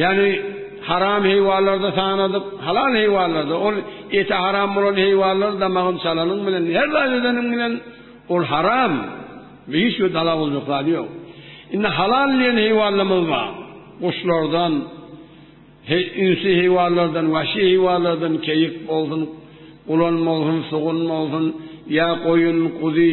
Ýagny haram heýwanlarda sanadyp, halal heýwanlarda, ol eti haram bolan heýwanlary damagyny çalanyň bilen, her zat edeniň bilen, ol haram. Bu hiç bir dala boljak zady ýok. Indi halal diýen heýwanlarymyz bar. Guşlardan, ünsi heýwanlardan, wahşy heýwanlardan, keýik bolsun, gulan bolsun, sugun bolsun, ýa goýun, guzy,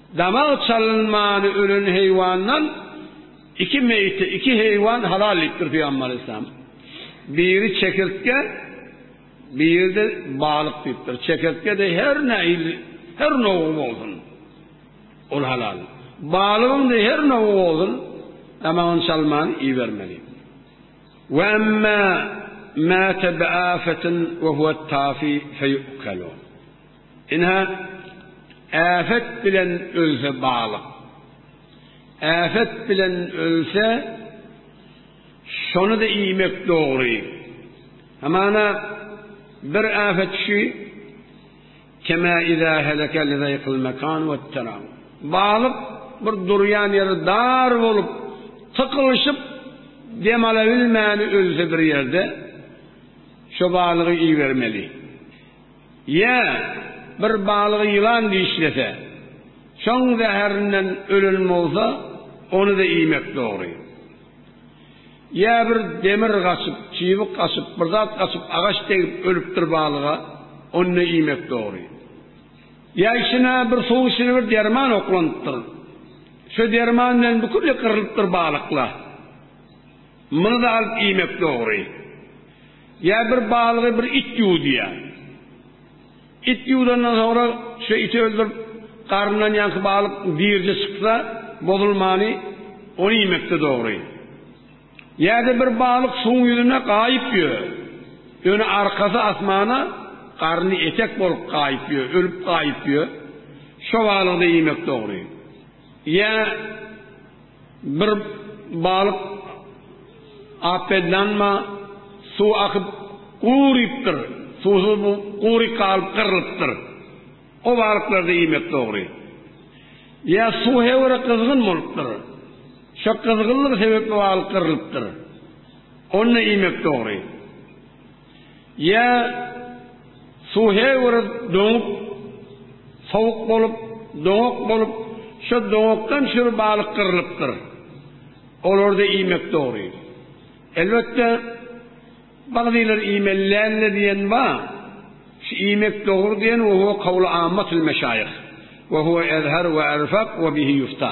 Damak çalynmany ölen heýwandan iki meýte, iki heýwan halal diýipdir Pygamber Aleyhisselam. Biri çekirtge, biri-de balyk diýipdir. Çekirtge-de her nähili, her nowgy bolsun. Ol halal. Balygyň-da her nowgy bolsun, damagyny çalman iýibermeli. Ve emme mâte bi âfetin ve huvet tafi feyu'kelu. Ine, äpet bilen ölse balyk. Äpet bilen ölse, şony-da iýmek dogry. Hamana, bir äpet şu, Kemâ izâ heleke li zayqil mekân vetterâ. Balyk bir durýan ýeri dar bolup, tykylyşyp, dem alabilmäni ölse bir ýerde, şo balygy iýibermeli. Ýa, bir balygy ýylan dişlese, şoň zäherinden ölen bolsa, ony-da iýmek dogry. Ýa bir demir gaçyp, çybyk gaçyp, bir zat gaçyp, agaç degip ölüpdir balyga, ony-da iýmek dogry. Ýa içine bir suw içine bir derman oklanypdyr. Şo derman bilen bükülli gyrylypdyr balykla. Muny-da alyp iýmek dogry. Ýa bir balygy bir it ýuwdýar. It ýuwdandan soňra şo iti öldürip, garnyndan ýaňky balyk dirje çyksa, bozulmany ony iýmekde dogry. Ýa-da bir balyk suwuň ýüzünde gaýyp ýör. Öni arkasy asmana, garny etek bolup gaýyp ýör, ölüp gaýyp ýör. Şo balygy-da iýmek dogry. Ýa. Bir balyk apedlanma suw akyp gurypdyr, suwsuz bu gury galyp gyrlypdyr. O balyklarda iýmek dogry. Ýa suw hewere gyzgyn bolupdyr. Şo gyzgynlygy sebepli balyk gyrlypdyr. Onda iýmek dogry. Ýa suw her bir doňup, sowuk bolup, doňak bolup, şo doňakdan çür balyk gyrylypdyr. Olary-da iýmek dogry. Elbetde, bagzylar iýmeli däldir diýen bar. Şu iýmek dogry diýen we huwa kawly ammatul meşaýyh. We huwa ezher we erfak we bihi ýufta.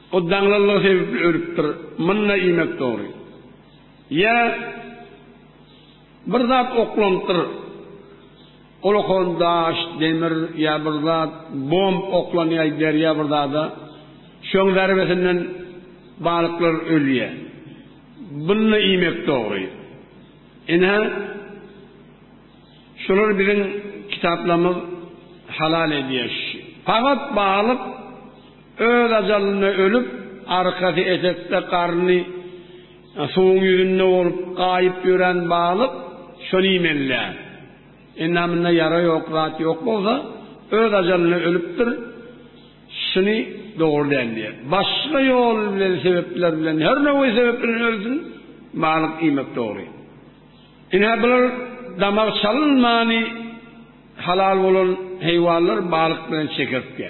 O daňlanlygy sebäpli ölüpdir, mynna iýmek dogry. Ýa bir zat oklanypdyr, ol okan daş, demir ýa bir zat, bomb oklanýar derýa bir zada, şoň zerbesinden balyklar ölýär. Bynna iýmek dogry. Ine-hä şular biziň kitaplarymyz halal edýär. Pagat balyk. Öz ajalyna ölüp, arkasy etekde garny suwuň ýüzünde bolup gaýyp ýören balyk şony iýmelidär. Endamynda ýara ýok zat ýok bolsa, öz ajalyna ölüpdir, şuny dogry däl diýer. Başga ýol bilen, sebepler bilen, her nowaý sebep bilen ölsün, balyk iýmek dogry. Ine, bular damak çalynmany halal bolan heýwanlar balyk bilen çekertge.